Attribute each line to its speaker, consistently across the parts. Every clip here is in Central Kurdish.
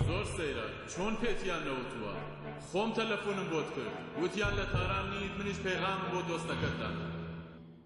Speaker 1: زۆر سەیرە چۆن پێتیان نەوتووە خۆم تەلەفونم بۆت کرد وتیان لە تاران نیت منیش پەیغامم بۆ دۆستەکەت دا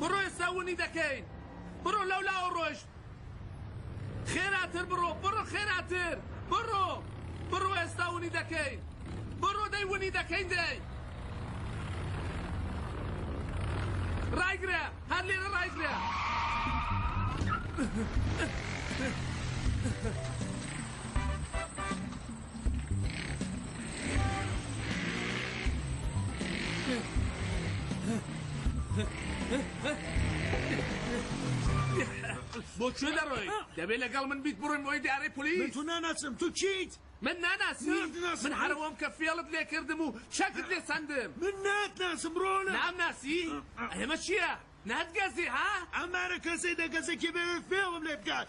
Speaker 2: بڕۆ ئێستا ونی دەکەین بڕۆ لەو لاوە ڕۆشت خێراتر بڕۆ بڕۆ خێراتر بڕۆ بڕۆ ئێستا ونی دەکەین بڕۆ دەی ونی دەکەین دەی ڕایگرە هەر لێرە ڕایگرە بۆ کوێ دەڕۆی دەبێت لەگەڵ من بیت بڕۆین بۆی دارەی پلیس تو ناناچم تو
Speaker 3: چیت من ناناسی
Speaker 2: من هەرەوەم کە فێڵت لێ کردم و چەکت لێ سندم من ناتناسم
Speaker 3: ڕۆنە نامناسی
Speaker 2: ئەمە چییە؟ ناتگەزی ها؟ ئەم مارە کەسەی
Speaker 3: دەگەزێ کێ بێ فێڵم لێ بکات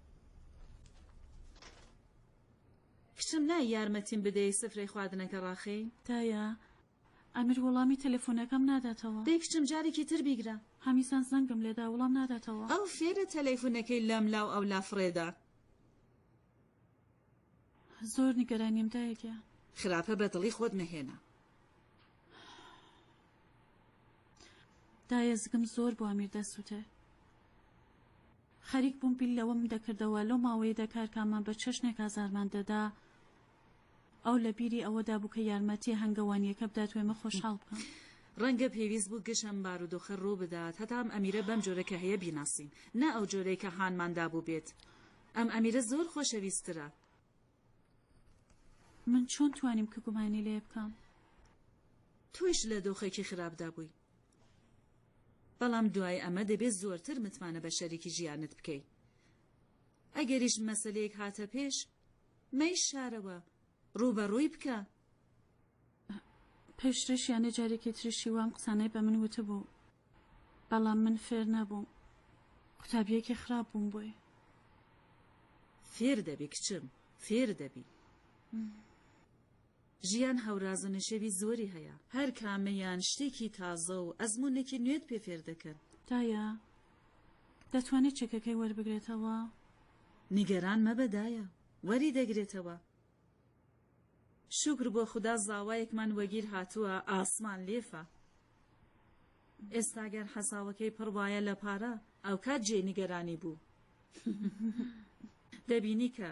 Speaker 4: کچم نای یارمەتیم بدەی سفرەی خواردنەکە ڕاخەی. دایە.
Speaker 5: ئەمیر وەڵامی تەلەفونەکەم ناداتەوە. دەی کچم جارێکی تر
Speaker 4: بیگرە. هەمیسان زەنگم
Speaker 5: لێدا وڵام ناداتەوە. ئەو فێرە
Speaker 4: تەلەیفونەکەی لەم لاو ئەو لا فڕێدا.
Speaker 5: زۆر نیگەرانیم دایە گیان. خراپە بە دڵی
Speaker 4: خۆت مەهێنە.
Speaker 5: دایە زگم زۆر بۆ ئەمیر دەسوتێ. خەریک بووم بیر لەوەم دەکردەوە لەو ماوەیەدا کارکامە بە چەشنێک ئازارمان دەدا، ئەو لە بیری ئەوەدا بوو کە یارمەتییە هەنگەوانییەکە بدات و ئێمە خۆشحاڵ بکا. ڕەنگە پێویست
Speaker 4: بوو گشت ئەم بارودۆخە ڕوو بدات هەتا ئەم ئەمیرە بەم جۆرە کە هەیە بیناسین، نا ئەو جۆرەی کە هانمان دابوو بێت. ئەم ئەمیرە زۆر خۆشەویستترە.
Speaker 5: من چۆن توانیم کە گومانی لێ بکەم؟
Speaker 4: تۆیش لە دۆخێکی خراپدا بووی. بەڵام دوای ئەمە دەبێت زۆرتر متمانە بە شەریکی ژیانت بکەی. ئەگەریش مەسەلەیەک هاتە پێش، مەی شارەوە، ڕووبەڕووی بکە.
Speaker 5: پێشتریش یانێ جارێکی تریشی وام قسانەی بە من وتبوو بەڵام من فێر نەبووم قوتابیەکی خراپ بووم بۆی
Speaker 4: فێر دەبی کچم فێر دەبی. ژیان هەوراز و نشێوی زۆری هەیە. هەر کامەیان شتێکی تازە و ئەزموونێکی نوێت پێ فێر دەکەن. دایە،
Speaker 5: دەتوانێت چەکەکەی وەربگرێتەوە؟ نیگەران
Speaker 4: مەبە دایە، وەری دەگرێتەوە. شوکر بۆ خودا زاوایەکمان وەگیر هاتووە، ئاسمان لێفە. ئێستا گەر حەساوەکەی پڕ بایە لە پارە، ئەوکات جێی نیگەرانی بوو. دەبینی کە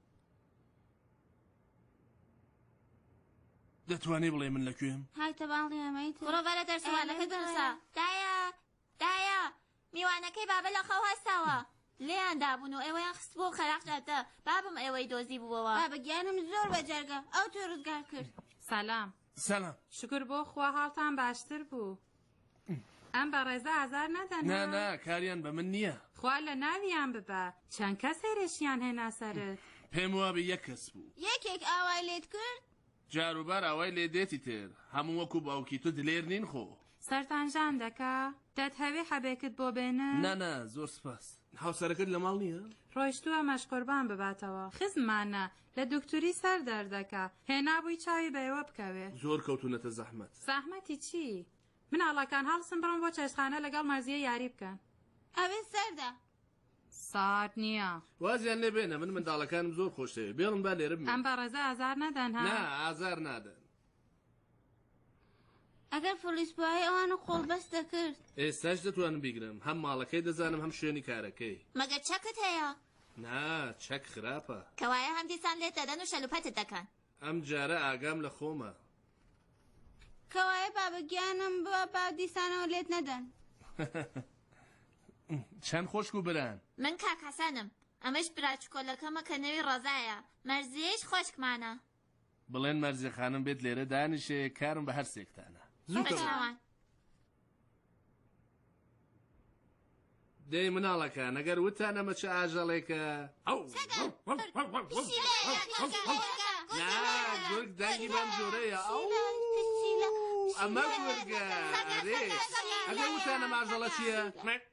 Speaker 6: دەتوانێ بڵێ من لەکوێم؟ های تەباڵی ئەمەی
Speaker 7: تر بڕۆ بەرە دەرسوانەکە دەرسە دایە دایە میوانەکەی بابە لە خەو هەستاوە لێیان دابوون و ئێوەیان خست بۆ خەراق جادە بابم ئێوەی دۆزی بووەوە بابە گیانم زۆر بەجەرگە ئەو تۆ ڕزگار کرد سلام
Speaker 8: سلام شکر
Speaker 6: بۆ خوا
Speaker 8: هاڵتان باشتر بوو ئەم بەڕێزە ئازار نەدەن نا نا کاریان بە
Speaker 6: من نییە خوا لە ناویان
Speaker 8: ببە چەند کەس هێرشیان هێنا سەرت پێم وابێ یەک
Speaker 6: کەس بوو یەکێک ئاوای لێت
Speaker 7: کرد جاروبار ئاوای
Speaker 6: لێ دێتی تر هەموو وەکو باوکی تو دلێر نین خۆ سەرتان ژان
Speaker 8: دەکا دەتهەوێ حەبێکت بۆ بێنن نا نا زۆر سپاس
Speaker 6: هاوسەرەکەت لە ماڵ نییە ڕۆیشتووە مەشقوربان
Speaker 8: بباتەوە خزمانە لە دوکتوری سەر دەردەکا. هێنابووی چاوی بە ئێوە بکەوێ. زۆر کەوتونەتە
Speaker 6: زەحمەت. زەحمەتی چی؟
Speaker 8: مناڵەکان هەڵسن بڕۆن بۆ چێشتخانە لەگەڵ مەرزیە یاری بکەن. ئەوێ سەردە.
Speaker 7: سارد
Speaker 8: نییە. وازیان لێ بێنە من
Speaker 6: منداڵەکانم زۆر خۆش دەوێ. بێڵن با لێرە بمێنن. ئەم بەڕێزە ئازار
Speaker 8: نەدەن ها. نا ئازار
Speaker 6: نادەن.
Speaker 7: ئەگەر فلیس بوایە ئەوانە قۆڵبەست دەکرد. ئێستاش دەتوانم
Speaker 6: بیگرم هەم ماڵەکەی دەزانم هەم شوێنی کارەکەی. مەگەر چەکت هەیە؟
Speaker 7: نا
Speaker 6: چەک خراپە. کەوایە هەم دیسان
Speaker 7: لێت دەدەن و شەلوپەتت دەکەن. ئەم جارە
Speaker 6: ئاگام لە خۆمە.
Speaker 7: کەوایە بابە گیانم ببە با دیسانەوە لێت نەدەن.
Speaker 6: چەند خۆشک و بران. من کاک حەسەنم.
Speaker 7: ئەمەش برا چکۆلەکەمە کە نەوی ڕەزایە. مەرزیەیش خۆشکمانە. بڵێن
Speaker 6: مەرزێ خانم بێت لێرە دانیشێ کارم بە هەر سێکتانە زوو بە کەوە
Speaker 7: چاوان
Speaker 6: دەی مناڵەکە نەگەر وتانە مەچ ئاژەڵێکە ئەو نا گورگ دەنگی بەم جۆرەیە ئەو ئەمە گورگە ئەرێ ئەگەر وتانە ماژەڵە چییە؟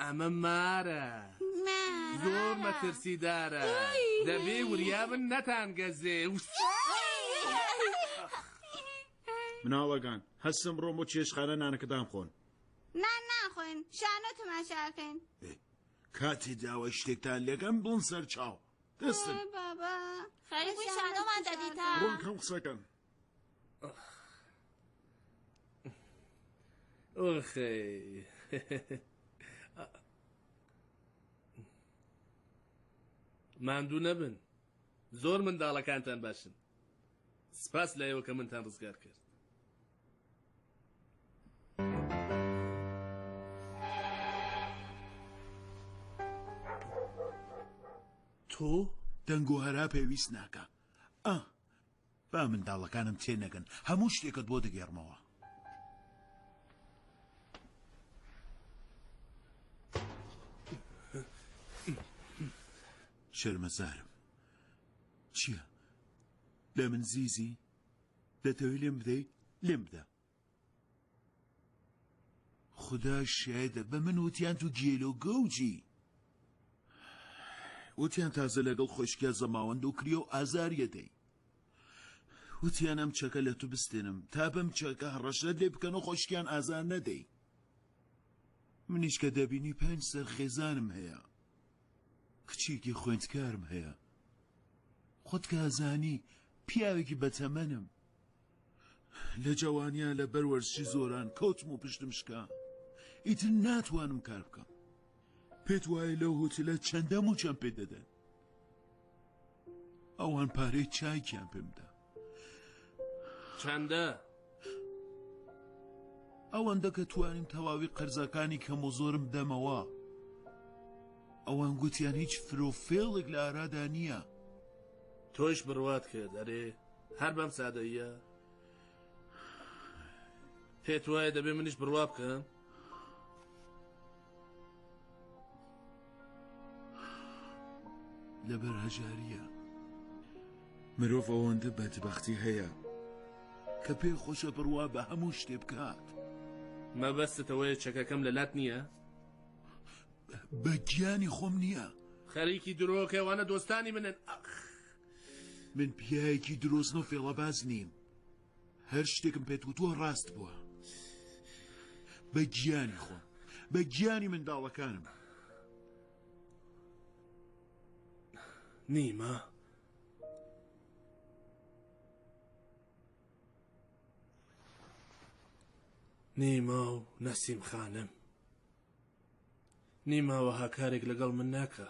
Speaker 6: ئەمە مارە زۆر مەترسیدارە دەبێ وریابن نەتان گەزێ
Speaker 3: مناڵەگان هەستم ڕۆم و چێشخانە نانەکەدان خۆن نا ناخۆین
Speaker 7: شانۆ تەماشاکەین کاتی
Speaker 3: داوە شتێکتان لەگەم بڵن سەر چاو دەستن بابا
Speaker 7: خەریبووی شانۆمان دەدیتان ڕۆن کەم قسەکەن
Speaker 6: ماندوو نەبن زۆر منداڵەکانتان باشن سپاس لە ئێوە کە منتان ڕزگار کرد
Speaker 3: تۆ دەنگۆ هەرا پێویست ناکە ئە با منداڵەکانم تێ نەگەن هەموو شتێکت بۆ دەگێڕمەوە. شەرمەزارم چییە؟ لە من زیزی؟ دەتەوێت لێم بدەی؟ لێم بدە. خودا شایەدە بە من وتیان تو گێلە و گەوجی وتیان تازە لەگەڵ خۆشکیا زەماوەند و کریا و ئازاریەدەی وتیان ئەم چەکە لە تو بستێنم تا بەم چەکە هەڕەشەت لێ بکەن و خۆشکیان ئازار نەدەی منیش کە دەبینی پێنج سەر خێزانم هەیە کچێکی خوێندکارم هەیە خۆت کازانی پیاوێکی بەتەمەنم لە جەوانیا لە بەر وەرزشی زۆران کەوتم و پشتم شکا ئیتر ناتوانم کار بکەم پێت وایە لەو هوتلە چەندەم و چەند پێ دەدەن ئەوان پارەی چایکیان پێمدا چەندە ئەوەندە کە توانیم تەواوی قەرزەکانی کەم و زۆرم دەمەوە ئەوان گوتیان هیچ فرۆفێڵێک
Speaker 6: لە
Speaker 3: ئارادا نییە
Speaker 6: تۆش
Speaker 3: بڕوات کرد
Speaker 6: ئەرێ هەر بەم سادەییە پێت وایە دەبێ منیش بڕوا بکەم
Speaker 3: لەبەر هەژاریە مرۆڤ ئەوەندە بەدبختی هەیە کە پێ خۆشە بڕوا بە هەموو شتێ بکات مەبەستەوەی
Speaker 6: چەکەکەم لە لات نییە
Speaker 3: بە گیانی خۆم نییە خەریکی
Speaker 6: درۆکەوانە دۆستانی منن ئەخ
Speaker 3: من پیاوێکی درۆزن و فێڵەباز نیم هەر شتێکم پێت وتووە ڕاست بووە بە گیانی خۆم بە گیانی منداڵەکانم
Speaker 6: نیمە نیما و نەسیم خانم نیما وەها کارێک لەگەڵ من ناکا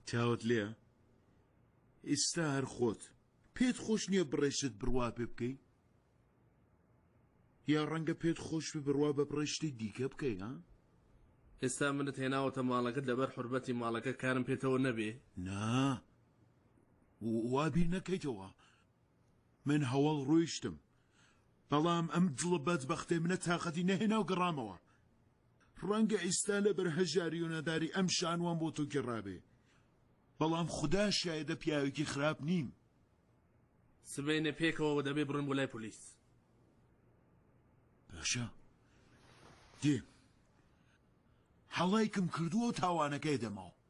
Speaker 3: چاوت لێە ئیستا هەر خۆت پێت خۆش نییە بڕێشت بڕوا پێ بکەی یا ڕەنگە پێت خۆش بێ بڕوا بە بڕێشتی دیکە بکەی ها ئێستا
Speaker 6: منت هێناوەتە ماڵەکەت لەبەر حربەتی ماڵەکە کارم پێتەوە نەبێ نا
Speaker 3: وابی نەکەیتەوە من هەوەڵ ڕۆیشتم بەڵام ئەم دڵە بەدبەختەی منە تاقەتی نەهێنا و گەڕامەوە. ڕەنگە ئیستا لەبەر هەژاری و نەداری ئەم شانووەم بۆ تۆ گێڕابێ بەڵام خودا شایەدە پیاوێکی خراپ نیم.
Speaker 6: سبەینێ پێکەوە و دەبێ بڕۆین بۆ لای پۆلیس.
Speaker 3: باشە دێم. هەڵایکم کردووە و تاوانەکەی دەمەوە.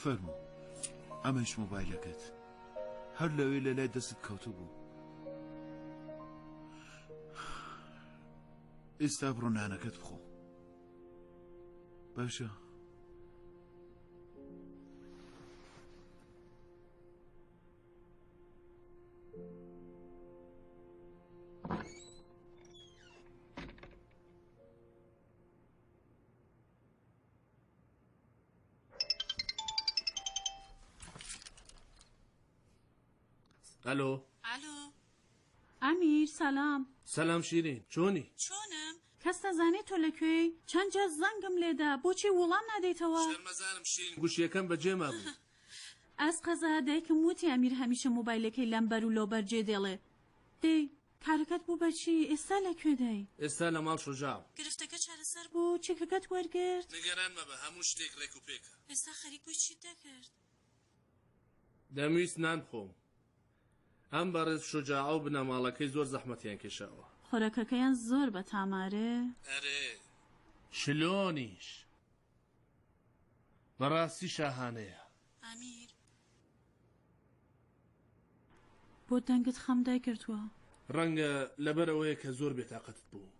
Speaker 3: فەرموو ئەمەیش مۆبایلەکەت. هەر لەوێ لە لای دەستت کەوتبوو. ئێستا بڕۆ نانەکەت بخۆ. باشە.
Speaker 6: ئەلۆ ئەلۆ
Speaker 5: ئەمیر سەلام سەلام شیرین
Speaker 6: چۆنی چۆنم کەس
Speaker 5: نەزانێت تۆ لەکوێ چەند جار زەنگم لێدا بۆچی وڵام نادەیتەوە شەرمەزارم شیرین
Speaker 6: گوشیەکەم بەجێما بوو ئەس
Speaker 5: قەزا دایکم وتی ئەمیر هەمیشە مۆبایلەکەی لەمبەر و لۆبەر جێ دێڵێ دەی کارەکەت بوو بە چی؟ ئێستا لە کوێدای؟ ئێستا لە ماڵ شوجاع.
Speaker 6: گرفتەکە چارەسەر
Speaker 5: بوو؟ چەکەکەت وەرگرت؟ نیگەران مەبە هەموو
Speaker 6: شتێک رێک و پێکە. ئێستا
Speaker 5: خەریک بووی چیت دەکرد؟ دەمویست
Speaker 6: نان بخۆم. ئەم بەڕێز شوجاع و بنەماڵەکەی زۆر زەحمەتیان کێشاوە. خۆراکەکەیان زۆر
Speaker 5: بەتامارێ؟ ئەرێ
Speaker 6: شلۆنیش؟ بەڕاستی شاهانەیە. ئامیر.
Speaker 5: بۆ دەنگت خەم دای گرتوە. ڕەنگە
Speaker 6: لەبەر ئەوەیە کە زۆر بێتاقەتت بووم.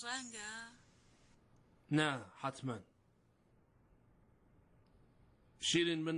Speaker 5: ڕەنگە.
Speaker 6: نا حەتمەن. شیرین من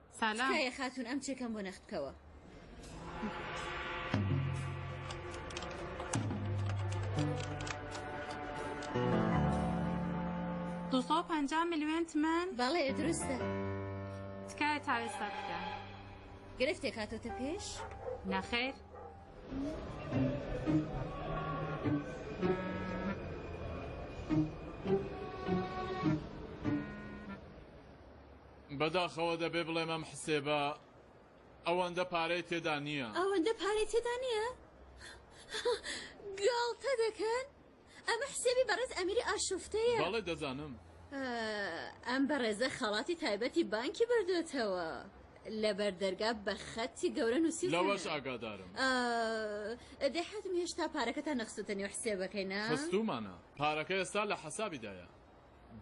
Speaker 8: سالام. تکایە خاتون ئەم
Speaker 4: چێکەم بۆ نەخت بکەوە. دوسەد
Speaker 8: و پەنجا ملیۆن تمەن بەڵێ دروستە
Speaker 4: تکایە
Speaker 8: تاوێستا بکە گرفتێک
Speaker 4: هاتۆتە پێش نەخیر
Speaker 1: بەداخەوە دەبێ بڵێم ئەم حسێبە ئەوەندە پارەی تێدا نییە. ئەوەندە پارەی تێدا
Speaker 4: نییە؟ گاڵتە دەکەن؟ ئەمە حسێبی بەڕێز ئەمیری ئاشوفتەیە. بەڵێ دەزانم. ئەم بەڕێزە خەڵاتی تایبەتی بانکی بردۆتەوە. لەبەر دەرگا بە خەتی گەورە نووسیوتە. لەوەش ئاگادارم. دەی حەزم هێشتا پارەکەتان نەخستووتە نێو حسێبەکەی نا؟ خستوومانە. پارەکە
Speaker 1: ئێستا لە حەسابیدایە.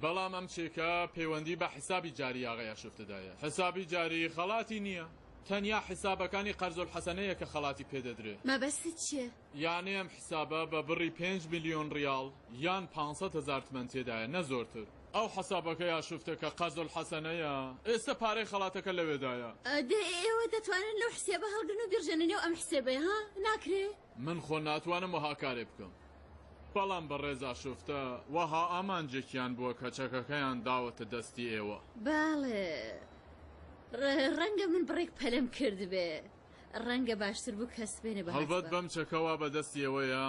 Speaker 1: بەڵام ئەم چێکە پەیوەندی بە حسابی جاری ئاغای ئاشۆفتدا هەیە، حسابی جاری خەڵاتی نییە، تەنیا حسابەکانی قەرزولحەسەنەیە کە خەڵاتی پێدەدرێ. مەبەستت چییە؟
Speaker 4: یانی ئەم حسابە
Speaker 1: بە بڕی پێنج ملیۆن ڕیاڵ یان پانسەد هەزار تمەن تێدایە، نە زۆرتر. ئەو حسابەکەی ئاشوفتە کە قەرزولحەسەنەیە، ئێستە پارەی خەڵاتەکە لەوێدایە. دەی ئێوە
Speaker 4: دەتوانن لەو حسێبە هەڵگرن و بیڕژێنە نێو ئەم حسێبەی ها؟ ناکرێ؟ من خۆ ناتوانم
Speaker 1: وەها کارێ بکەم. بەڵام بەڕێزا شوفتە وەها ئامانجێکیان بووە کە چەکەکەیان داوەتە دەستی ئێوە. بەڵێ.
Speaker 4: ڕە، ڕەنگە من بڕێک پەلەم کردبێ. ڕەنگە باشتر بوو کەس بێنێ بە هەست بە. هەڵبەت بەم چەکە وا بە
Speaker 1: دەستی ئێوەیە.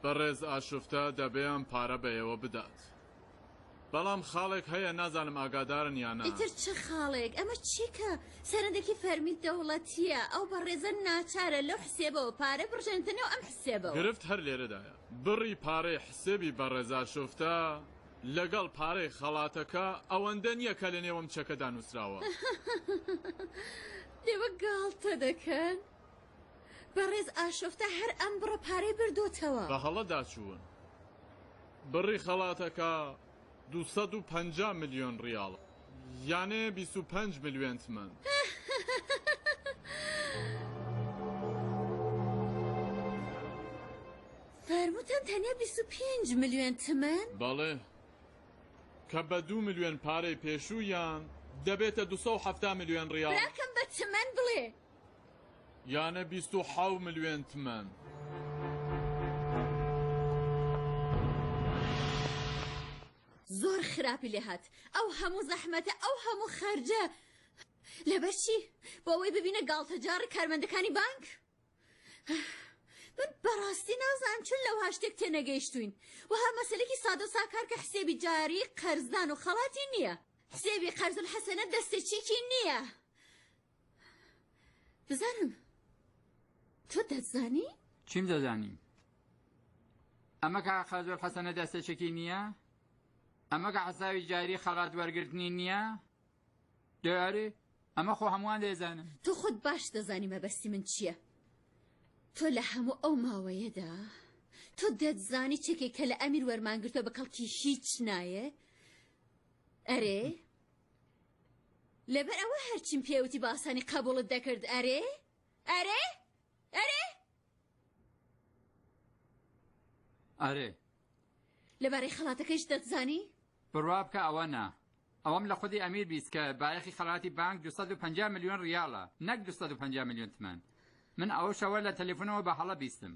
Speaker 1: بەڕێز ئاشوفتە دەبێ ئەم پارە بە ئێوە بدات. بەڵام خاڵێک هەیە نازانم ئاگادارن یان نا. ئیتر چ خاڵێک؟
Speaker 4: ئەمە چی کە سەرەندێکی فەرمی دەوڵەتییە؟ ئەو بەڕێزە ناچارە لەو حسێبەوە پارە بڕژێنێتە نێو ئەم حسێبەوە. گرفت هەر لێرەدایە.
Speaker 1: بڕی پارەی حسێبی بەڕێزا شوفتە لەگەڵ پارەی خەڵاتەکە ئەوەندە نییە کە لەنێو ئەم چەکەدا نووسراوە.
Speaker 4: لێوە گاڵتە دەکەن؟ بەڕێز ئاشۆفتا هەر ئەم بڕە پارەی بردۆتەوە. بە هەڵە داچوون.
Speaker 1: بڕی خەڵاتەکە دوو سەد و پەنجا ملیۆن ڕیاڵە. یانێ بیست و پەنج ملوێن تمەن.
Speaker 4: فەرمووتان تەنیا بیست و پێنج ملوێن تمەن؟ بەڵێ.
Speaker 1: کە بە دوو ملوێن پارەی پێشوویان، دەبێتە دوو سەد و حەفتا ملوێن ڕیاڵ. براکەم بە تمەن
Speaker 4: بڵێ.
Speaker 1: یانە بیست و حەو ملوێن تمەن.
Speaker 4: زۆر خراپی لێ هات ئەو هەموو زەحمەتە ئەو هەموو خەرجە لەبەر چی بۆ ئەوەی ببینە گاڵتەجاڕی کارمەندەکانی بانک من بەڕاستی نازانم چون لەو هاشتێک تێنەگەیشتوین وەها مەسلێکی سادە ساکار کە حسێبی جاری قەرزدان و خەڵاتی نییە حسێبی قەرزل حەسەنە دەستێکیکی نییە بزانم تۆ دەزانی؟ چیم
Speaker 9: دەزانی؟ ئەمە کە قازۆر حەسەنە دەستەچەکی نییە؟ ئەمە کە حەساوی جاری خەڵات وەرگرتنی نییە؟ دەیارێ ئەمە خۆ هەمووان دەێزانم تۆ خۆت باش
Speaker 4: دەزانی مەبەستی من چییە؟ تۆ لە هەموو ئەو ماوەیەدا تۆ دەتزانی چێکێک کە لە ئەمیر وەرمانگرتە بە کەڵکی هیچ نایە؟ ئەرێ؟ لەبەر ئەوە هەرچیم پێوتی باسانی قبوڵت دەکرد ئەرێ ئەرێ ئەرێ
Speaker 9: ئەرێ
Speaker 4: لەبارەی خەڵاتەکەش دەتزانی بڕوا بکە ئەوە
Speaker 9: نا ئەوەم لە خودی ئەمیر بیست کە بایەخی خەڵاتی بانک 250 میلیۆن ریاڵە نەک 250 میلیۆن تمان من ئەو شەوە لە تەلەفۆنەوە بە هەڵە بیستم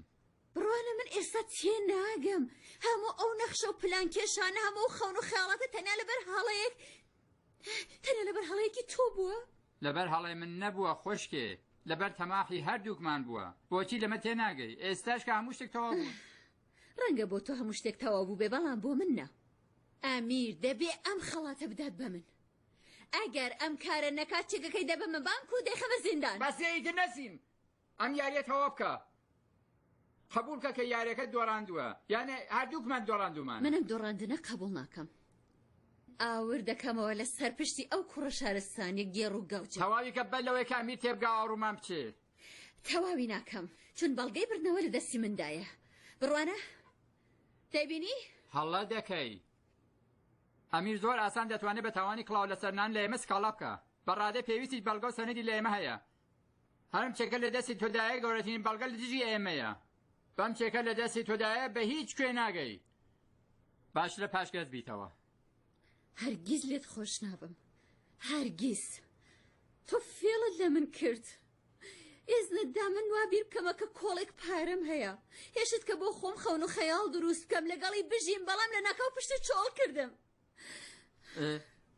Speaker 9: بڕوانە من
Speaker 4: ئێستا تێ ناگەم هەموو ئەو نەخشە و پلان کێشانە هەموو و خەون و خیاڵاتە تەنیا لەبەر هەڵەیەک تەنیا لەبەر هەڵەیەکی تۆ بووە لەبەر هەڵەی من
Speaker 9: نەبووە خۆشکێ لەبەر تەماحی هەردووکمان بووە بۆچی لەمە تێ ناگەی ئێستاش کە هەموو شتێک تەواو بوو ڕەنگە بۆ
Speaker 4: تۆ هەموو شتێک تەواو بوو بێ بەڵام بۆ من نە ئامیر دەبێ ئەم خەڵاتە بدات بە من ئەگەر ئەم کارە نەکات چێگەکەی دەبەمە بانک و دەیخەمە زیندان بەسێیتر نەسیم
Speaker 9: ئەم یاریە تەواو بکە قبول کە کە یارەکە دۆڕاندووە یانە هەردووکمان دۆڕاندومان منم دۆڕاندنە
Speaker 4: قبول ناکەم ئاور دەکەمەوە لە سەر پشتی ئەو کوڕە شارستانیە گێڕ و گەوج تەواوی کە بەر لەوەی کامی
Speaker 9: تێبگا ئاڕومان بچێ تەواوی
Speaker 4: ناکەم چون بەڵگەی بردنەوە لە دەستی مندایە بڕوانە دەبینی هەڵە
Speaker 9: دەکەی ئەمیر زۆر ئاسان دەتوانێت بە تاوانی کڵاو لەسەرنان لە ئێمە سکاڵا بکە بەڕادە پێویستی بەڵگە و سەنەدی لە ئێمە هەیە هەرم چەکە لە دەستی تۆدایە گەورەترین بەڵگە لە دژی ئێمەیە بەم چێکە لە دەستی تۆدایە بە هیچ کوێ ناگەی باش لە پاشگەز بیتەوە هەرگیز
Speaker 4: لێت خۆش نابم
Speaker 9: هەرگیز
Speaker 10: تۆ فێڵت لە من کرد ئێزنەتدا من وا بیر بکەمە کە کۆڵێک پارەم هەیە هێشت کە بۆ خۆم خەون و خەیاڵ دروست بکەم لەگەڵی بژیم بەڵام لە ناکاو پشتی چۆڵ کردم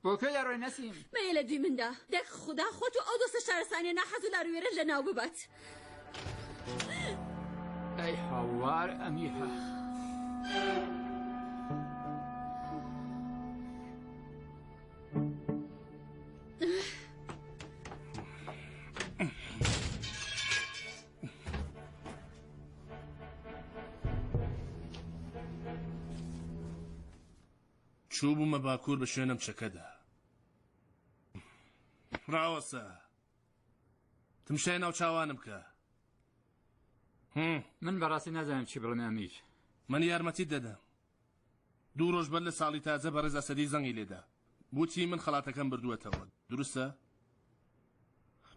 Speaker 9: بۆکە لە ڕۆی نەسیم مەیە لە دوی مندا
Speaker 10: دەک خوددا خۆت و ئەو دۆستە شارستانیە ناحەز و لاروێرە لە ناو ببات
Speaker 9: ئەی هاوار ئەمیها.
Speaker 6: چووبوومە باکوور بە شوێنم چەکەدا ڕاوەسە تمشای ناو چاوانم بکە
Speaker 9: من بەڕاستی نازانم چی بڵێم ئەمیر من یارمەتی
Speaker 6: دەدەم دوو ڕۆژ بەر لە ساڵی تازە بە ڕێزا سەدی زەنگی لێدا بوتی من خڵاتەکەم بردووەتەوە دروستە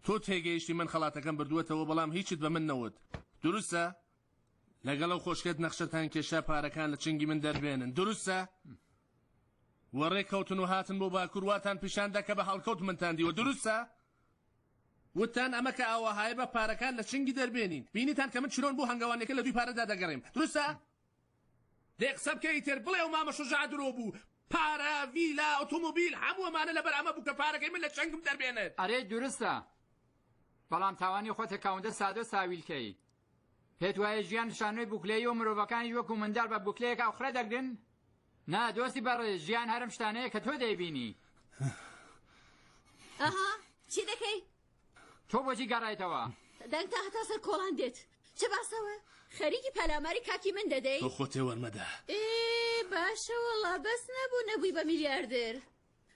Speaker 6: تۆ تێگەیشتی من خڵاتەکەم بردووەتەوە بەڵام هیچت بە من نەوت دروستە لەگەڵ ئەو خۆشکەت نەخشەتان کێشا پارەکان لە چنگی من دەربێنن دروستە؟ وە ڕێکەوتن و هاتن بۆ باکوور واتان پیشاندا کە بە هەڵکەوت منتان دیوە دروستە؟ وتتان ئەمە کە ئاوەهایە با پارەکان لە چنگی دەربێنین بینیتان کە من چلۆن بۆ هەنگەوانەکە لە دووی پارەدا دەگەڕێم دروستە؟ دەی قسە بکە ئیتر بڵێ و مامە شوجاع درۆ بوو پارە ڤیلا ئۆتۆمۆبیل هەموو ئەمانە لەبەر ئەمە بوو کە پارەکەی من لە چنگم دەربێنێت ئەرێ دروستە
Speaker 9: بەڵام تاوانی خۆتە کاوندە سادە ساویلکەی پێت وایە ژیان شانۆی بوکلەیی و مرۆڤەکانیش وەکو منداڵ بە بوکلەیەک ئاوخرە دەگرن؟ نا دۆستی بەڕێز ژیان هەرم شتانەیە کە تۆ دەیبینی
Speaker 10: ئەها چی دەکەی؟ تۆ بۆچی
Speaker 9: گەڕایتەوە؟ دەنگ تا هەتا
Speaker 10: سەر کۆڵان دێت چ باسەوە؟ خەریکی پەلاماری کاکی من دەدەی؟ تۆ خۆتێ وەرمەدە
Speaker 6: باشە
Speaker 10: وەڵا بەس نەبوو نەبووی بە میلیاردر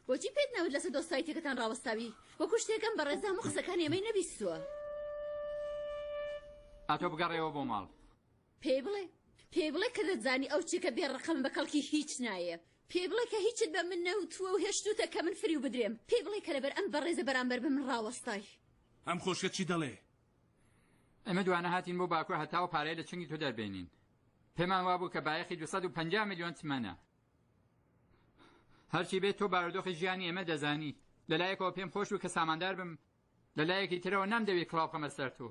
Speaker 10: بۆچی پێت نەوت لەسەر دۆستایتیەکەتان ڕاوەستاوی؟ وەکو شتێکەم بەڕێزە هەموو قسەکانی ئەمەی نەبیستووە.
Speaker 9: ئەتۆ بگەڕێوە بۆ ماڵ. پێی بڵێ
Speaker 10: پێی بڵێ کە دەتزانی ئەو چێکە بێ ڕقم بە کەڵکی هیچ نایێ. پێی بڵێ کە هیچت بە من نەوتووە و هێشتووتە کە من فریو بدرێم. پێی بڵێ کە لەبەر ئەم بەڕێزە بەرامبەر بە من ڕاوەستای. ئەم خۆشکە
Speaker 6: چی دەڵێ؟
Speaker 9: ئێمە دوانە هاتین بۆ باکوور هەتاوە پارەی لە چنگی تۆ دەربێنین. پێمان وابوو کە بایەخی دوو سەد و پەنجا ملیۆن تمەنە. هەرچی بێت تۆ بارودۆخی ژیانی ئێمە دەزانی لەلایەکەوە پێم خۆش و کە ساماندار بم لە لایەکی ترەوە نامدەوێت کڵاو قەمە سەر تۆ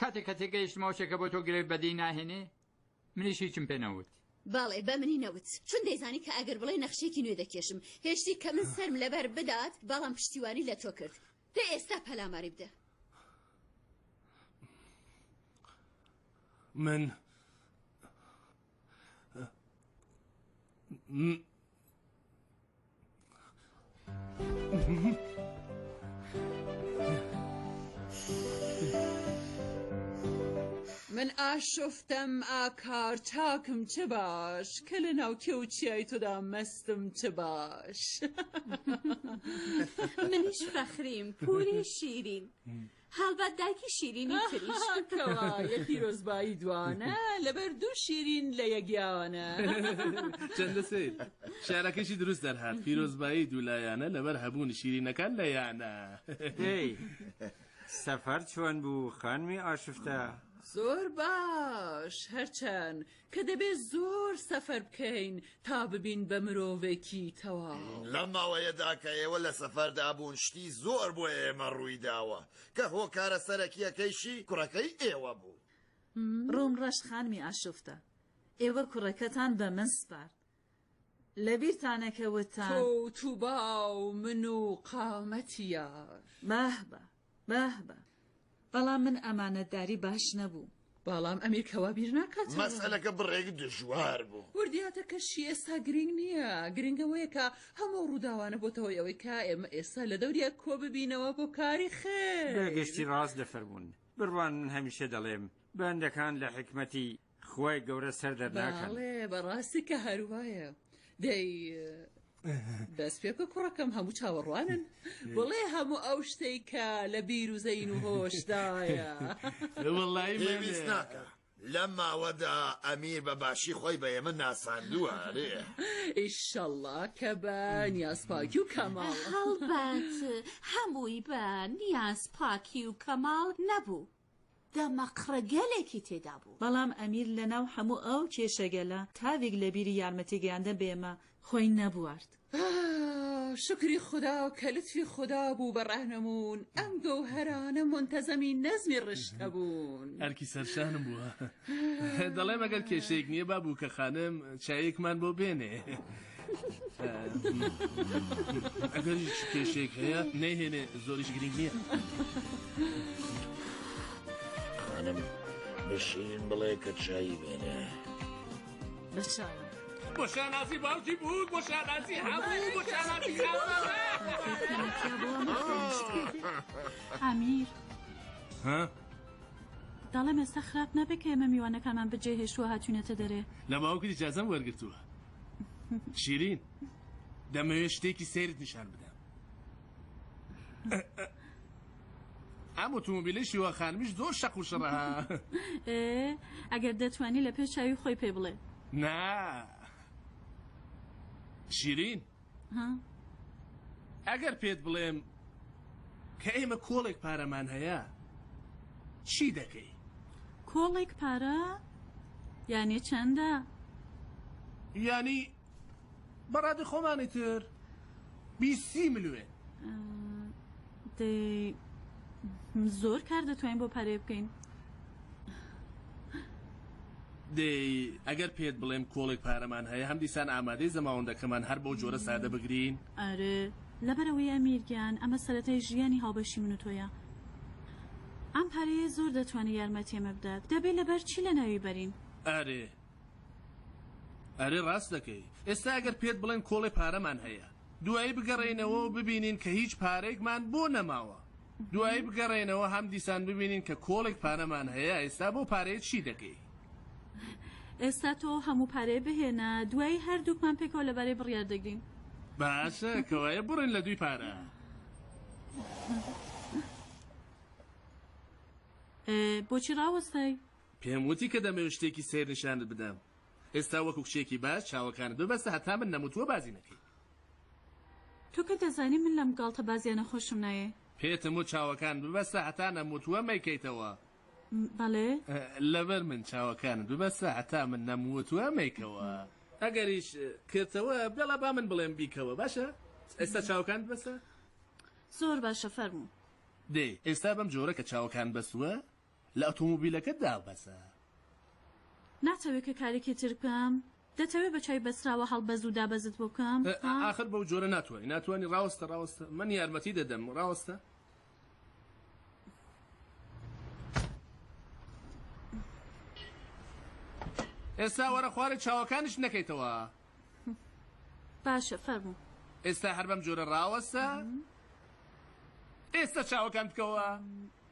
Speaker 9: کاتێک کە تێگەیشتمەوە شێکە بۆ تۆ گرێ بەدی ناهێنێ منیش هیچم پێ نەوت باڵێ بە منی
Speaker 10: نەوت چون دەیزانی کە ئەگەر بڵێ نەخشێکی نوێ دەکێشم هێشتی کە من سەرم لەبەر بدات بەڵام پشتیوانی لە تۆ کرد دە ئێستا پەلاماری بدە
Speaker 6: من
Speaker 11: من ئاشفتم ئاکار چاکم چ باش کە لە ناوکێ و چیای تۆدا مەستم چ باش
Speaker 10: منیش فەخریم پوری شیرین هەڵبەت دایکی شیرینی تریش کەوە یە
Speaker 11: پیرۆزبایی دوانە لەبەر دوو شیرین لە یەگیاوانە
Speaker 6: چەندە سیر شارەکەشی دروست دەرهات پیرۆزبایی دوولایانە لەبەر هەبوونی شیرینەکان لە یانە
Speaker 12: سەفەر چۆن بوو خانمی ئاشفتە زۆر
Speaker 11: باش هەرچەند کە دەبێ زۆر سەفەر بکەین تا ببین بە مرۆڤێکی تەواو. لەم ماوەیەدا
Speaker 13: کە ئێوە لە سەفەردا بوون شتی زۆر بۆ ئێمە ڕوویداوە کە هۆکارە سەرەکییەکەیشی کوڕەکەی ئێوە بوو. ڕۆم
Speaker 4: ڕەش خانمی ئاشوفتە، ئێوە کوڕەکەتان بە من سپارد، لەبیرتانە کە وتتان. تۆ و تووبا
Speaker 11: و من و قامەتی یار. بەهبە
Speaker 4: بەهبە بەڵام من ئەمانەتداری باش نەبوو. بەڵام ئەمیر کە
Speaker 11: وا بیر ناکاتەوە. مەسەلەکە بڕێک
Speaker 13: دژوار بوو. وردیاتەکەشی ئێستا
Speaker 11: گرینگ نییە، گرینگ ئەوەیە کە هەموو ئەو ڕووداوانە بۆتە هۆی ئەوەی کە ئێمە ئێستا لە دەوریاک کۆ ببینەوە بۆ کاری خێر. بەگشتی ڕاست
Speaker 12: دەفەرموون. بڕوانن هەمیشە دەڵێم بەندەکان لە حیکمەتی خوای گەورە سەر دەرناکەن. بەڵێ بەڕاستی کە
Speaker 11: هەروایە دەی دەست پێ بکە کوڕەکەم هەموو چاوەڕوانن بڵێ هەموو ئەو شتەی کە لە بیر و زەین و هۆشدایە وڵی
Speaker 13: پێویست ناکە. لەم ماوەدا ئەمیر بە باشی خۆی بە ئێمە ناساندووە ئەرێ
Speaker 11: ئیشەڵا کە بە نیازپاکی و کەماڵ هەڵبەت
Speaker 14: هەمووی بە نیاز پاکی و کەماڵ نەبوو دەمەقڕگەلێکی تێدا بوو. بەڵام ئەمیر لەناو
Speaker 4: حەموو ئەو کێشەگەلە تاویک لەبیری یارمەتی گەیاندن بە ئێمە خۆی نەبوارد.
Speaker 11: شوکری خودا کە لوتفی خودا بوو بە ڕەهنموون، ئەم گەوهەرانە مونتەزەمی نەزمی ڕشتە بوون. ئەرکی سەرشانم
Speaker 6: بووە. دەڵێم ئەگەر کێشەیەک نییە با بووکەخانم چایەکمان بۆ بێنێ. ئەگەر کێشێک هەیە نەیهێنێ زۆریش گرنگ نییە
Speaker 13: خانم بەشیرین بڵێ کە چایی بێنێ
Speaker 4: بەشان بۆ
Speaker 6: شانازی باوکی بوو بۆ شانازی هەموو بۆ شانازی
Speaker 5: ئامیر ها؟ دەڵێم ئێستا خراپ نابێت کە ئێمە میوانەکانمان بەجێ هێشتووە هاتوونەتە دەرێ لە باوکت جازم
Speaker 6: وەرگتووە شیرین دەمەوێت شتێکی سەیرت نیشان بدەم ئەم ئۆتومبیلی شیوە خانمیش زۆر شەق و شڕە
Speaker 5: ئەگەر دەتوانی لە پێش چاوی خۆی پێ بڵێ نا
Speaker 6: شیرین ها؟ ئەگەر پێت بڵێم کە ئێمە کۆڵێک پارەمان هەیە چی دەکەی؟ کۆڵێک
Speaker 5: پارە؟ یانی چەندە؟
Speaker 6: یانی بە ڕادەی خۆمانی تر بیست سی ملوێن. دەی
Speaker 5: زۆر کار دەتوانین بۆ پارەیە بکەین
Speaker 6: دەی ئەگەر پێت بڵێم کۆڵێک پارەمان هەیە هەم دیسان ئامادەی زەماوەندەکەمان هەر بەو جۆرە سادە بگرین ئەرێ
Speaker 5: لەبەرەوەی ئەمیرگیان ئەمە سەرەتای ژیانی هاوبەشی من و تۆیە ئەم پارەیە زۆر دەتوانێت یارمەتی ئێمە بدات دەبێت لەبەر چی لەناوی بەرین ئەرێ
Speaker 6: ئەرێ ڕاست دەکەی ئێستا گەر پێت بڵێن کۆڵێ پارەمان هەیە دوایی بگەڕێینەوەو ببینین کە هیچ پارەیەکمان بۆ نەماوە دوایی بگەڕێینەوە هەم دیسان ببینین کە کۆڵێک پارەمان هەیە ئێستا بەو پارەیە چی دەکەی؟
Speaker 5: ئێستا تۆ ئەو هەموو پارەیە بهێنە دوایی هەردووکمان پێکەوە لەبارەی بڕیار دەگرین. باشە
Speaker 6: کەوایە بڕێن لە دووی پارە. بۆچی
Speaker 5: ڕاوەستای؟ پێم وتی کە
Speaker 6: دەمەوێت شتێکی سەیر نیشانت بدەم. ئێستا وەکو کچێکی باش چاوەکانت ببەستە هەتا من نەموتووە بازی نەکەی.
Speaker 5: تۆ کە دەزانی من لەم گاڵتەبازیانە خۆشم نایێ. پێتم وت چاوەکانت
Speaker 6: ببەستە هەتا نەموتووە مەیکەیتەوە. بەڵێ.
Speaker 5: لەبەر
Speaker 6: من چاوەکانت ببەستە هەتا من نەموتووە مەیکەوە. ئەگەریش کردتەوە بێڵا با من بڵێم بیکەوە باشە. ئێستا چاوەکانت بەسە. زۆر
Speaker 5: باشە فەرموو. دەی ئێستا
Speaker 6: بەم جۆرە کە چاوەکانت بەستووە لە ئۆتۆمۆبیلەکەت دابەزە.
Speaker 5: ناتەوێ کە کارێکی تر بکەم؟ دەتەوێ بە چای بەسراوە هەڵبەز و دابەزت بۆ بکەم؟ ها؟ ئاخر بەو جۆرە
Speaker 6: ناتوانی، ناتوانی، ڕاوەستە، ڕاوەستە، من یارمەتی دەدەم، ڕاوەستە. ئێستا وەرە خوارێ چاوەکانیشت نەکەیتەوە.
Speaker 5: باشە، فەرموو. ئێستا هەر بەم
Speaker 6: جۆرە ڕاوەستە. ئێستا چاوەکانت بکەوە.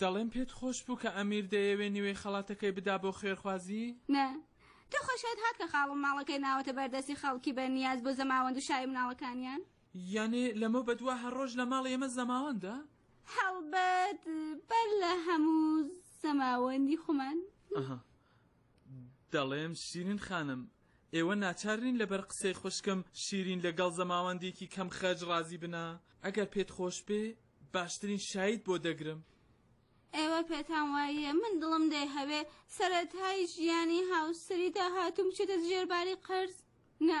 Speaker 1: دەڵێم پێت خۆش بوو کە ئەمیر دەیەوێ نیوەی خەڵاتەکەی بدا بۆ خوێرخوازی؟ نا،
Speaker 15: تۆ خۆشت هات کە خاڵم ماڵەکەی ناوەتە بەر دەستی خەڵکی بە نیاز بۆ زەماوەند و شای مناڵەکانیان. یانێ
Speaker 1: لەمەو بە دوا هەر ڕۆژ لە ماڵی ئێمە زەماوەندە؟ هەڵبەت
Speaker 15: بەر لە هەموو زەماوەندی خۆمان. ئەها.
Speaker 1: دەڵێم شیرین خانم ئێوە ناچار نین لەبەر قسەی خوشکم شیرین لەگەڵ زەماوەندێکی کەم خەرج ڕازی بنە ئەگەر پێت خۆش بێ باشترین شایت بۆ دەگرم. ئێوە
Speaker 15: پێتان واییە من دڵم دەیهەوێ سەرەتای ژیانی هاوسەری داهاتووم بچێتە ژێر باری قەرز؟ نا.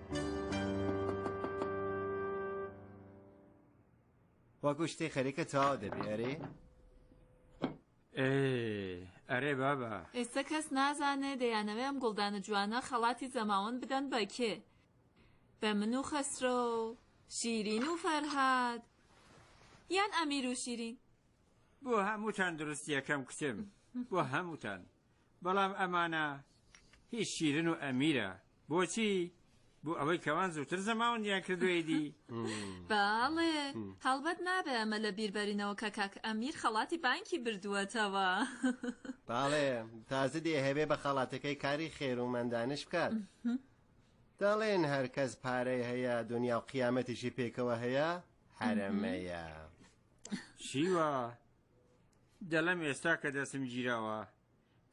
Speaker 16: وەکو شتێ خەریکە تاو دەبێ ئەرێ
Speaker 12: ئەرێ بابا ئێستا کەس
Speaker 17: نازانێ دەیانەوێ ئەم گوڵدانە جوانە خەڵاتی زەماوەند بدەن بە کێ بە
Speaker 5: من و خەسرۆ شیرین و فەرهاد یان ئەمیر و شیرین بۆ
Speaker 12: هەمووتان دروستیەکەم کچم بۆ هەمووتان بەڵام ئەمانە هیچ شیرن و ئەمیرە بۆچی بۆ ئەوەی کەوان زووتر زەماون یان کردوێ دی باڵێ
Speaker 5: هەڵبەت نابێ ئەمە لە بیربەرینەوە کە کاک ئەمیر خەڵاتی بانکی بردووەتەوە
Speaker 16: باڵێ تازە دێ هەبێ بە خەڵاتەکەی کاری خێرومەندانش بکات دەڵێن هەرکەس پارەی هەیە دنیا و قیامەتیشی پێکەوە هەیە حرەمەیە
Speaker 12: شیوە دەڵێم ئێستا کە دەستم گیراوە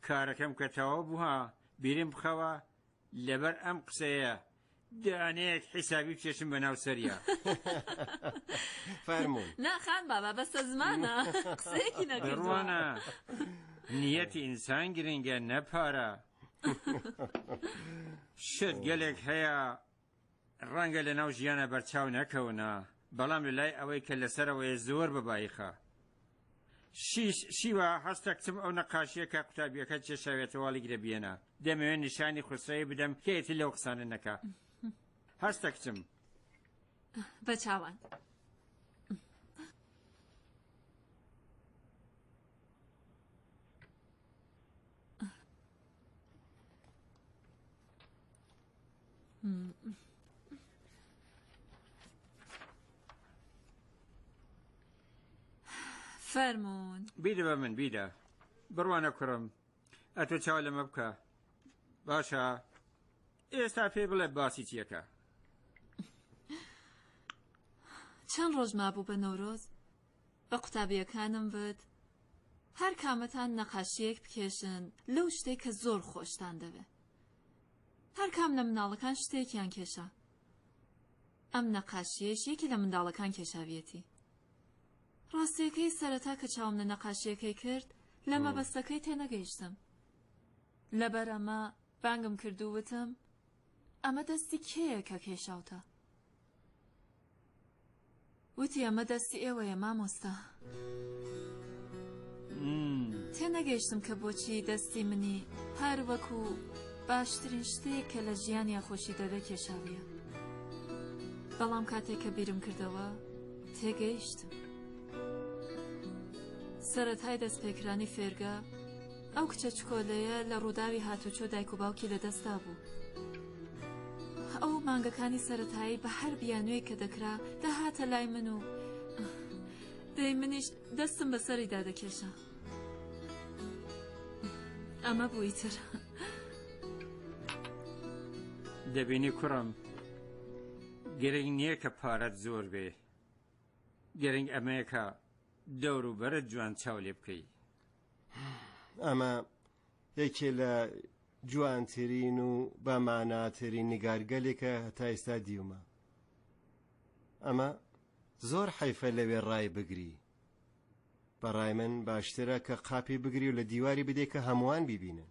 Speaker 12: کارەکەم کە تەواو بووە بیرم بخەوە لەبەر ئەم قسەیە دانەیەک حیسابی بچێشم بە ناو سەریا
Speaker 16: فەرموو ناخان بابا بەسە
Speaker 5: زمانە قسەیەکی نەگەڕوانە
Speaker 12: نیەتی ئینسان گرنگە نەپارە شت گەلێک هەیە ڕەنگە لەناو ژیانا بەرچاو نەکەونە بەڵام لەلای ئەوەی کە لەسەرەوەیە زۆر بە بایخە. شیش شیوا هەستە کچم ئەو نەقاشیە کە قوتابیەکە چێشاوێتەواڵی گرە بیێنە دەمەوێن نیشانی خوسرەوی بدەم کێتی لەو قسانە نەکە هەستە کچم
Speaker 5: بە چاوان. فەرمونون بیدە بە من
Speaker 12: بیدە بڕوانە کوڕم ئەتۆ چاو لەمە بکە باشە ئێستا پێ بڵێ باسی چیەکە
Speaker 5: چەند ڕۆژ مابوو بە نەورۆز بە قوتابیەکانم وت هەر کامەتان نەقاشیەک بکێشن لەو شتەی کە زۆر خۆشتان دەوێ هەر کام لە مناڵەکان شتێکیان کێشا ئەم نەقاشیەش یەکێ لە منداڵەکان کێشاویەتی ڕاستیەکەی سەرەتا کە چاوم لە نەقاشیەکەی کرد لە مەبەستەکەی تێنەگەیشتم لەبەر ئەمە بانگم کرد و وتم ئەمە دەستی کێیە کە کێشاوتە وتی ئەمە دەستی ئێوەیە مامۆستا. تێنەگەیشتم کە بۆچی دەستی منی هەر وەکو باشترین شتێک کە لە ژیانیا خۆشی دەوێ کێشاویە بەڵام کاتێک کە بیرم کردەوە تێگەیشتم سەرەتای دەستپێکرانی فێرگە ئەو کچە چکۆلەیە لە ڕووداوی هاتووچۆ دایک و باوکی لەدەستدا بوو. ئەو مانگەکانی سەرەتایی بە هەر بیانوێک کە دەکرا دەهاتە لای من و دەی منیش دەستم بەسەریدا دەکێشا. ئەمە بووی تر.
Speaker 12: دەبینی کوڕم گرنگ نییە کە پارەت زۆر بێ گرنگ ئەمەیەکە دەور و بەرە جوان چاو لێ بکەی
Speaker 16: ئەمە یەکێ لە جوانترین و بەماناترین نیگارگەلێکە هەتا ئێستا دیومە ئەمە زۆر حیفە لەوێ ڕای بگری بەڕای من باشترە کە قاپی بگری و لە دیواری بدێکە هەمووان بیبینن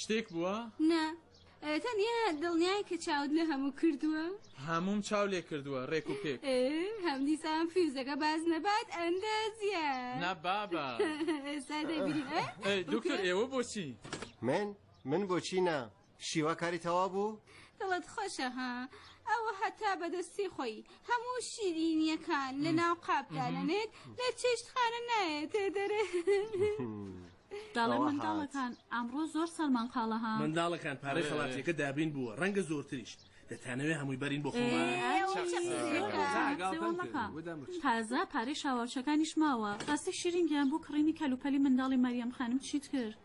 Speaker 1: شتێک بووە؟ نا
Speaker 15: تەنیا دڵنیای کە چاوت لە هەموو کردووە هەموم چاو لێ
Speaker 1: کردووە ڕێک و پێک هەم دیسان
Speaker 15: فیوزەکە باز نەبات ئەندازە نا بابا دکتۆر ئێوە
Speaker 1: بۆچی من من
Speaker 16: بۆچی نا شیوا کاری تەواو بوو؟ دڵت خۆشە
Speaker 15: ها ئەوە هەتا بەدەستی خۆی هەموو شیرینیەکان لە ناو قاپ دانەنێت لە چێشت خانە نایەتێ دەرێ
Speaker 5: داڵێ منداڵەکان ئەمڕۆ زۆر سەرمان قاڵە ها منداڵەکان پارەی
Speaker 6: خەڵاتیەکە دابین بووە ڕەنگە زۆرتریش دەتانەوێ هەمووی بەرین بۆ خۆمان
Speaker 5: تازە پارەی شاواچەکانیش ماوە ڕاستی شیرینگیان بۆ کڕینی کەلوپەلی منداڵی مەریەم خانم چیت کرد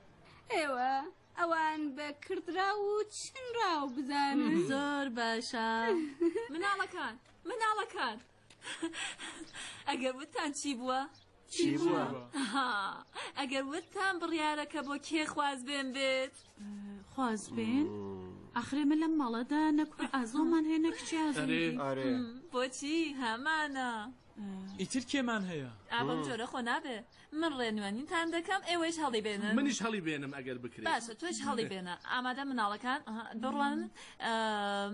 Speaker 5: ئێوە
Speaker 15: ئەوان بە کردراو و چنراو بزانن زۆر باشە
Speaker 5: مناڵەکان مناڵەکان ئەگەر وتان چی بووە؟
Speaker 16: چی بووە؟
Speaker 5: ئەگەر وتان بڕیارەکە بۆ کێ خواز بێن بێت خواز بێن؟ ئەخرێ من لەم ماڵەدا نەکوڕ ئازۆمان هەیە نەکچی ئازۆ بۆچی هەمانە؟ ئیتر
Speaker 1: کێمان هەیە؟ ئا بەم جۆرە خۆ نابێ.
Speaker 5: من ڕێنوێنیتان دەکەم، ئێوەیش هەڵیبێنن. منیش هەڵیبێنم ئەگەر
Speaker 6: بکرێ. باشە تۆش هەڵیبێنە.
Speaker 5: ئامادەن مناڵەکان؟ ئەها، بڕوانن.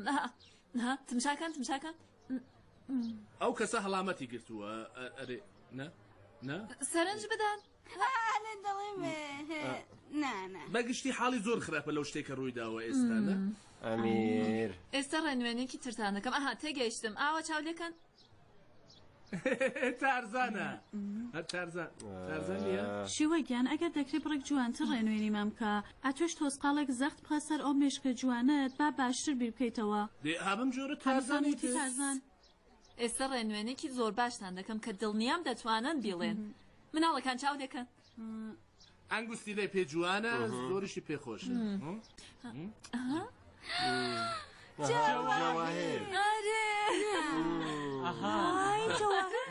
Speaker 5: ئەها، ئەها، تمشا کەن، تمشا کەن.
Speaker 6: ئەو کەسە هەڵامەتی گرتووە، ئەرێ، نا، نا. سەرنج بدەن. بەگشتی حاڵی زۆر خراپە لەو شتێک کە ڕوویداوە ئێستا ئەمیر
Speaker 16: ئێستا ڕێنوێنێکی
Speaker 5: ترتان دەکەم ئەها تێگەیشتم ئاوە چاو لەکەن
Speaker 6: تارزانە شیوە گیان ئەگەر
Speaker 5: دەکری بڕێک جوانتر ڕێنوێنی مامکە ئەتوش تۆسقالێک زەخت بخە سەر ئەو مێشکە جوانت با باشتر بیر بکەیتەوە دێ ئابم جۆرە
Speaker 6: تارزانێتی تارزان.
Speaker 5: ئێستە ڕێنوێنێکی زۆر باشتان دەکەم کە دڵنیام دەتوانن بیڵێن مناڵەکان چاو دەکەن.
Speaker 6: ئەنگوستی لێ پێ جوانە زۆریشی پێ خۆشە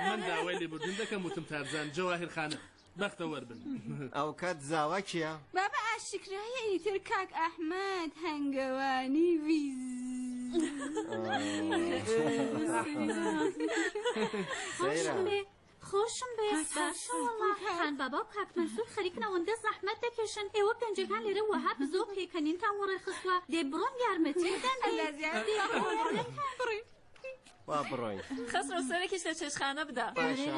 Speaker 6: من داوای لێبوردن دەکەم وتم تارزان جەواهر خانە بەختەوەر بن ئەوکات
Speaker 16: زاوا کیە؟ بابە ئاشکرایە
Speaker 15: ئیتر کاک ئەحمد هەنگەوانی ویز
Speaker 10: خۆشم بێخان بابا و کاکمەسور خەریکن ئەوەندە زەحمەت دەکێشن ئێوە پێنجەکان لێرە وەها بزۆ پێکەنینتان وەڕێ خستوە دێ بڕۆن یارمەتی
Speaker 16: با بڕۆین خەسرۆ سەرێکیش
Speaker 5: لە چێشخانە بدە باشە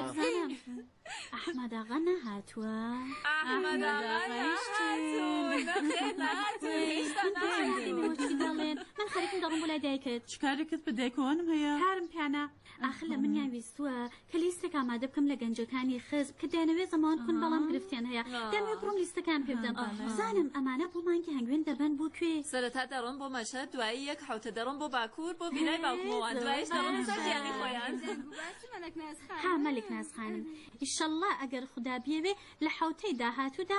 Speaker 10: ئەحمەداغا نەهاتووە دەڵێن من خەرکم دەڵم بۆ لای دایکت چکارێکت بدایکۆنم
Speaker 5: هەیە هارم پیانە
Speaker 10: ئاخر لە منیان ویستووە کە لیستێک ئامادە بکەم لە گەنجەکانی خزب کە دەیانەوێت زەمان کون بەڵام گرفتیان هەیە دەمێ بڕۆم لیستەکان پێ بدەم بزانم ئەمانە بۆ مانگی هەنگوێن دەبەن بۆ کوێ سەرەتا دەڕۆم بۆ
Speaker 5: مەشهەد دوایی یەک حەوتە دەڕۆم بۆ باکوور بۆ ڤیلای باوکمەوە دوایش دەڕۆم بۆ سەر گیانی خۆیان
Speaker 10: ها مەلک ناز خانم ئیشەڵڵا ئەگەر خودا بیەوێ لە حەوتەی داهاتوودا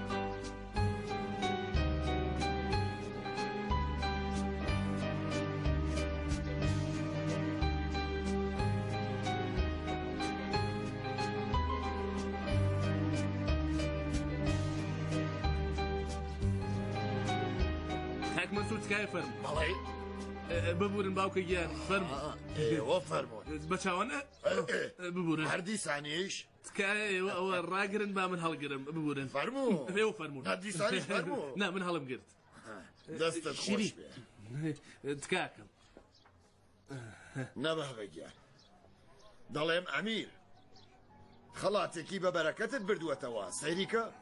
Speaker 6: تکای فەرم بەڵێ ببورن باوکە گیان فەرم ئێوە فەرمۆ
Speaker 13: بە چاوانە
Speaker 6: ببورن هەردی سانیش
Speaker 13: تکایە ئێوە
Speaker 6: ئەوە ڕاگرن با من هەڵگرم ببورن فەرموو
Speaker 13: نا من هەڵم گرت
Speaker 6: دەستە
Speaker 13: شیری تکاکەم نەبەگیان دەڵێم ئەمیر خەڵاتێکی بە بەرەکەتت بردووەتەوە سەیریکە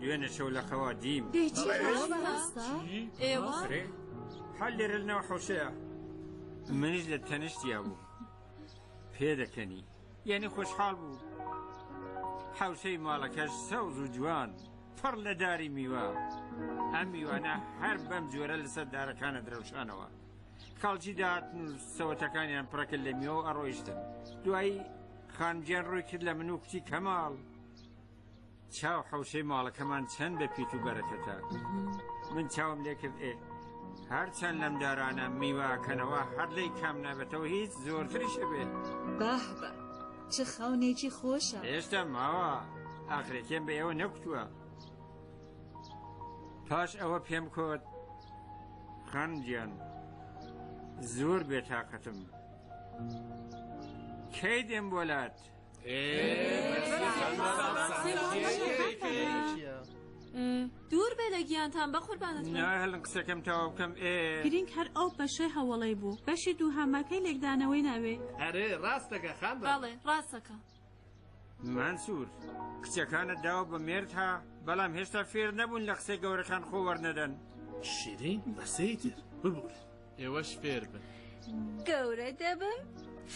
Speaker 12: دوێنێ شەو لە خەوا دیم دەی چی بڵێ. خۆش بەڕاستە؟ چی؟
Speaker 5: ئێوە؟ ئەرێ هەر
Speaker 12: لێرە لەناو حەوشەیە منیش لە تەنیشتیا بوو پێ دەکەنی یعنی خۆشحاڵ بوو حەوشەی ماڵەکەش سەوز و جوان پڕ لە داری میوە ئەم میوانە هەر بەم جۆرە لەسەر دارەکانە درەوشانەوە خەڵکی داهاتن و سەوەتەکانیان پڕەکە لە میوە و ئەڕۆیشتن دوایی خانجیان ڕووی کرد لە من و کوتی کەماڵ چاو حەوشەی ماڵەکەمان چەند بە پیت و بەرەکەتە من چاوم لێکرد ئێ هەرچەند لەم دارانە میواکەنەوە هەر لی کام نابێتەوە هیچ زۆرتریش بێت باه بە
Speaker 4: چ خاونێکی خۆشە هێشتا ماوە
Speaker 12: ئاخرێکێن بە ئێوە نەکوتووە پاش ئەوە پێم کۆت خانجیان زۆر بێتاقەتم کەی دێم بۆلات
Speaker 5: دوور بێ لە گیانتان بە قوربانت بم. نای هەلن قسەکەم تەوا
Speaker 12: بکەم ئێ گرینگ هەر ئەو
Speaker 5: بەشێ هەوڵەی بوو بەشی دوو هەماکەی لێکدانەوەی ناوێ ئەرێ ڕاستەکە
Speaker 6: خان بە بەڵێ ڕاستەکە
Speaker 12: مەنسوور کچەکانت داوە بە مێرد ها بەڵام هێشتا فێر نەبوون لە قسەی گەورەکان خۆ وەرنەدەن شیرین
Speaker 6: بەسەیتر ببوورە ئێوەش فێر
Speaker 1: بن. گەورە
Speaker 15: دەبم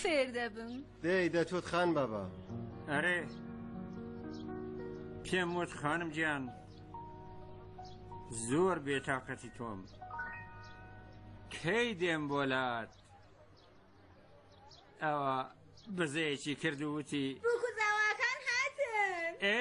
Speaker 15: فێر دەبم. دەی دەتوت خان
Speaker 16: بابا. ئەرێ
Speaker 12: پێم وت خانم گیان زۆر بێتاقەتی تۆم. کەی دێم بۆ لات ئەوە بزەیەکی کرد وتی. بووکوزاواکان هاتن.
Speaker 15: ئێ؟